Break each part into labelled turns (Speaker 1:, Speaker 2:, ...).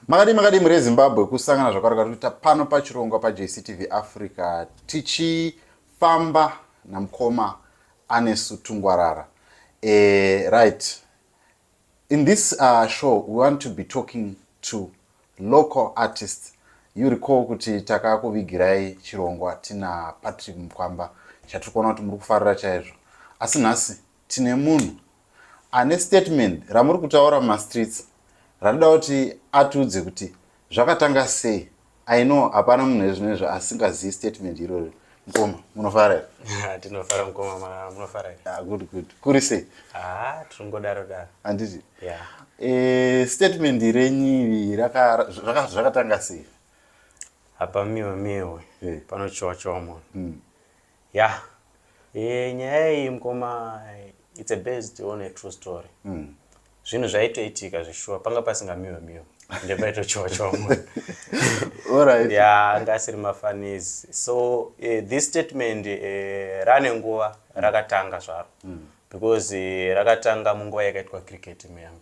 Speaker 1: Makadii makadii mhuri yeZimbabwe kusangana zvakare kwatinoita pano pachirongwa paJCTV Africa tichifamba namukoma Anesu Tungwarara. Eh, right. In this uh, show we want to be talking to local artists. You recall kuti takakuvigirai chirongwa tina Patrick Mkwamba chatiri kuona kuti muri kufarira chaizvo. Asi nhasi tine munhu ane statement ramuri kutaura mumastreets randida kuti atiudze kuti zvakatanga sei i know hapana munhu ezvino izvo asingazivi statement irori mukoma munofara here ah, tinofara mukoma
Speaker 2: munofara here ah, good good kuri sei
Speaker 1: ah, tiringodaro
Speaker 2: daro handiti
Speaker 1: eh,
Speaker 2: statement
Speaker 1: renyivi zvakatanga sei hapa miwe miwe
Speaker 2: eh. panochiwa chiwa munhu hmm. Yah eh, nyaya iyi mkoma it's a based on a true story mm. zvinhu zvaitoitika zveshuwa panga pasingamiwe miwe ndepaitochiwa chomwe right.
Speaker 1: ya anga asiri
Speaker 2: mafanizi so uh, this statement uh, rane nguva rakatanga zvaro mm. because uh, rakatanga munguva yakaitwa cricket muyambe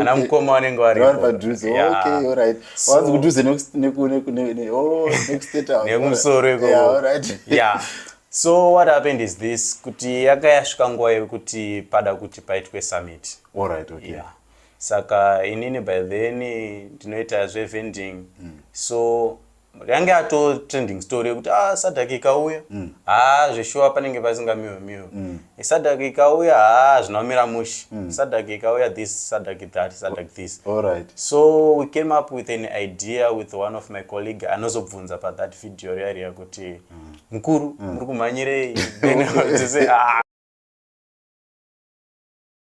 Speaker 2: ana mukoma vanenge
Speaker 1: varinemusoro
Speaker 2: ikoya so what happened is this kuti yaka yasvika nguva yekuti pada kuti paitwe summit Alright, okay. yeah.
Speaker 1: saka
Speaker 2: inini by then ndinoita zvevending mm. so yange ato trending story yekuti ah sadak ikauya mm. haa zveshuwa panenge pasinga miwe miwe mm. sadak ikauya haa zvinomira mushi mm. sadak ikauya this sadak that sadak this all right so
Speaker 1: we came
Speaker 2: up with an idea with one of my colleague anozobvunza pa that video riya riya kuti mm. mukuru mm. muri kumhanyirei ah,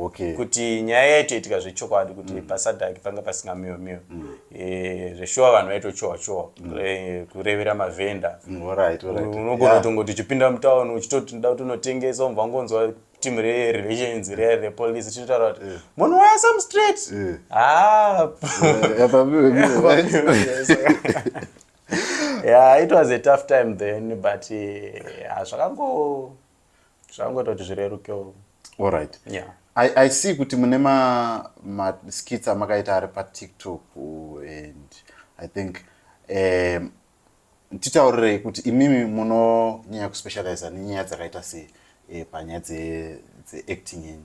Speaker 2: okay. kuti
Speaker 1: nyaya yaitoitika
Speaker 2: zvechokwadi kuti mm. pasadhaki panga pasina miyo miyo mm. e, eh, zveshuwa vanhu vaitochowa chowa mm. e, kurevera mavhenda mm, unogona right,
Speaker 1: right. tongoti
Speaker 2: uchipinda mutauni uchitoti nda kuti unotengesa umva ngonzwa team rerelations re repolice tichitaura kuti eh. munhu waya some straight eh. ah. yeah it was a tough time then but hazvakango uh, zvangoita kuti zvirerukewo allright
Speaker 1: yeah. I, i
Speaker 2: see kuti
Speaker 1: mune maskits ma amakaita ari patiktok and i think um, titaurirei kuti imimi munonyanya kuspecializa nenyaya dzakaita sei e, panyaya dzeacting dze yenyu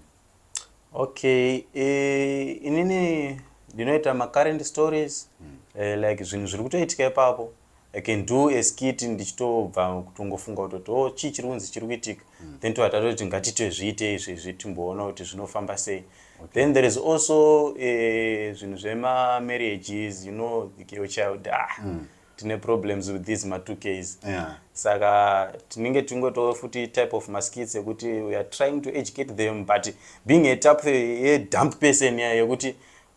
Speaker 1: okay
Speaker 2: e, inini ndinoita macurrent stories mm. e, like zvinhu zviri kutoitika ipapo I can do a skit ndichitobva kutongofunga kutoti o oh, chii chiri kunzi chiri kuitika mm. then tova tatoti ngatitozviite izvi izvi timboona kuti zvinofamba sei okay. then there is also eh, zvinhu zvemamarriages you know your child ah, mm. tine problems with these ma two ks yeah. saka tinenge tingotoo futi type of maskits ekuti weare trying to educate them but being a type yedump person yekuti yeah,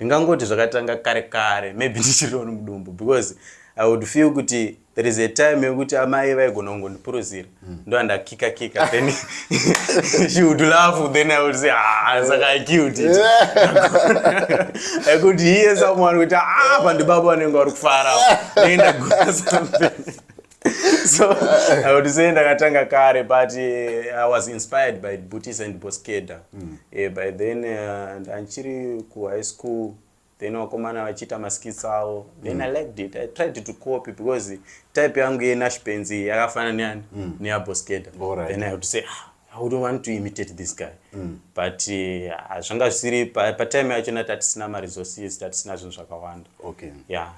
Speaker 2: Ndingangoti zvakatanga kare kare maybe ndichiri on mudumbu because I would feel kuti there is a time yekuti amai vaigona kungondipuruzira mm. ndo andakika kika then she would laugh then I would say ah saka I killed it I could hear someone kuti ah pandibaba vanenge vari kufara then ndagona something so i would say ndakatanga kare but uh, i was inspired by booties and boskeda mm. yeah, by then uh, ndanchiri kuhigh school then vakomana vachiita maskits avo then mm. i liked it i tried to copy because type yangu yenashpenzi yakafanana neyani mm. neyaboskeda right. then i would say ah, i would want to imitate this guy mm. but uh, zvanga zvisiri patime yacho na tatisina maresources tatisina zvinhu zvakawanda okay. yeah.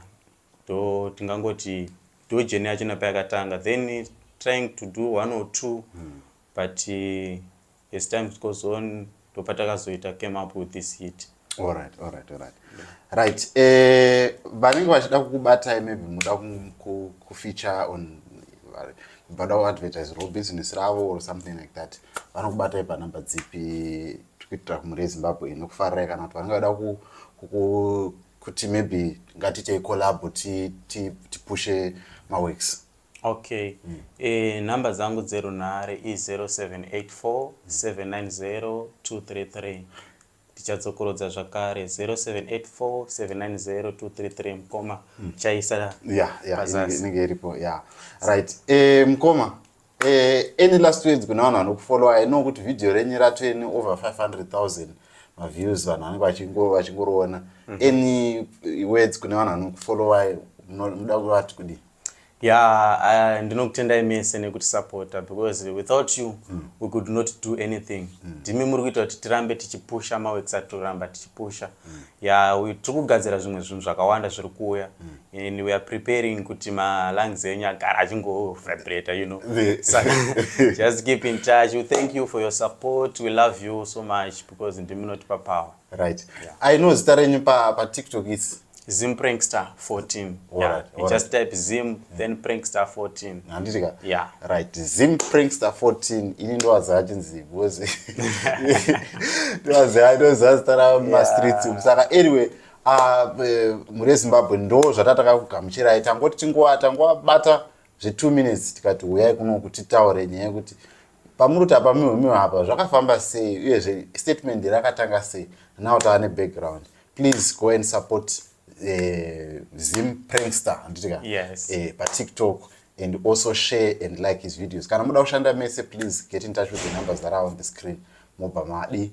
Speaker 2: ndo tingangoti ndo journey yacho napayakatanga then trying to do one or two mm. but uh, as time goes on ndopatakazoita came up with this hit alright alright
Speaker 1: alright right eh, vanenge vachida kukubatai maybe muda kufeature on vada kuadvertise ro business ravo or something like that vanokubatai panumber dzipi tikuitira kumuri yezimbabwe inokufarirai kana kuti vanenge vada kuti maybe ngatitei collabo tipushe ti, ti maworks okay
Speaker 2: mm. e, nhamba dzangu dzerunhare i0784 790 233 tichadzokorodza zvakare 0784790233 mkoma hmm. chaisa yeah, yeah,
Speaker 1: inenge iripo yeah. right e, mkoma Eh, any last words kuna vanhu vanokufollowa i know kuti video renyu ratweni over 500000 maviews vanhu vanenge vachingo- vachingoroona any words kune vanhu vanokufollowai muno- munoda kuvati kudii ya uh, ndinokutendai mese nekutisapota because without you we could not do anything ndimi muri kuita kuti tirambe tichipusha maweeks atoramba tichipusha ya we- tiri kugadzira zvimwe zvinhu zvakawanda zviri kuuya and we are preparing kuti malungs enyu agara achingovibrator you know saka just keep in touch we thank you for your support we love you so much because ndimunotipa power right yeah. i know zita renyu pa, pa tiktok is zim prankster 14
Speaker 2: yeah. right, just right. type zim mm. then prankster 14 handitika yeah.
Speaker 1: right
Speaker 2: zim
Speaker 1: prankster 14 ini ndowaziva chinzi because ndowaziva ndoziva zita ramastreets yeah. saka anyway Ah, eh, mhuri yezimbabwe ndo zvatataka kugamuchirai tangoti tinguva tangobata zve2 minutes tikati huyai kuno kuti taure nyaya yekuti pamuri kuti apa mihwemiwa apa zvakafamba sei uyezve statement rakatanga sei now tava nebackground please go and support uh, zim prankster anditika yes. uh, eh,
Speaker 2: patiktok
Speaker 1: and also share and like his videos kana muda kushanda mese please get in touch with the numbers that are on the screen mobva madi